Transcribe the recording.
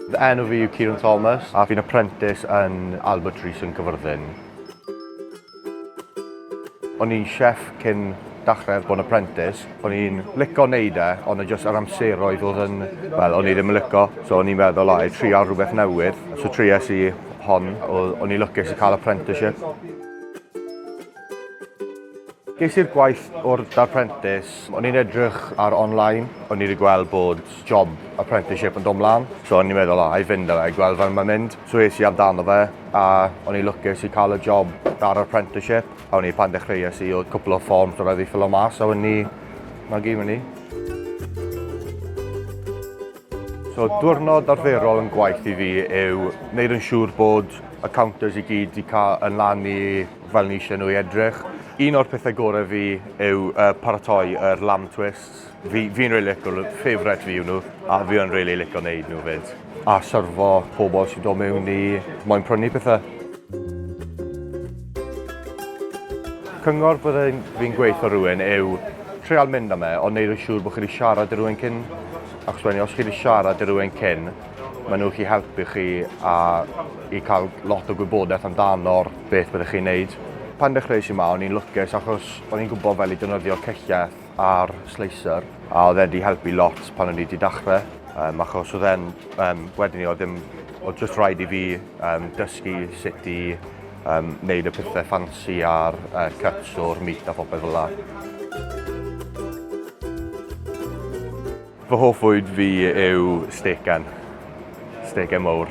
Fy enw fi yw Kieran Thomas a fi'n apprentice yn Albert Rees yn Cyfyrddin. O'n i'n chef cyn dachrau bod yn apprentice. O'n i'n lico wneud e, ond yn jyst yr amseroedd oedd yn... Wel, o'n i ddim yn lico, so o'n i'n meddwl, o, i trial rhywbeth newydd. So triais i hon, o'n i'n lwcus i cael apprenticeship. Ges i'r gwaith o'r darprentis, o'n i'n edrych ar online, o'n i wedi gweld bod job apprenticeship yn dod mlaen, so o'n i'n meddwl, o, oh, i fynd â fe, gweld fel mae'n mynd. So es i amdano fe, a o'n i lwcus i cael y job ar apprenticeship, a o'n i pan dechreuais i, oedd cwpl o fforms o rhaid i ffilo mas, a o'n i, na gyd mynd i. So diwrnod arferol yn gwaith i fi yw wneud yn siŵr bod y counters i gyd wedi cael yn lan i fel ni eisiau nhw i edrych. Un o'r pethau gorau fi yw uh, paratoi yr er lamb twists. Fi'n fi, fi really licio nhw, favourite fi yw nhw, a fi yn really licio wneud nhw fyd. A syrfo pobl sy'n dod mewn i moyn prynu pethau. Cyngor byddai'n fi'n gweithio rhywun yw treol mynd am e, ond neud yn siŵr bod chi wedi siarad i rhywun cyn, achos wedyn os chi wedi siarad i rhywun cyn, Maen nhw gallu helpu chi a i cael lot o gwybodaeth amdano'r beth byddwch chi'n neud. Pan dechreuais i ma o'n i'n lwcus achos o'n i'n gwybod fel i defnyddio celleth a'r slicer a oedd e'n di helpu lot pan o'n i di dachre um, achos oedd e'n um, wedyn i oedd ddim oedd just rhaid i fi um, dysgu sut i um, neud y pethau ffansi a'r uh, cuts o'r meat a phopeth fel la. Fy hoff fwyd fi yw stecan. Stecan mawr.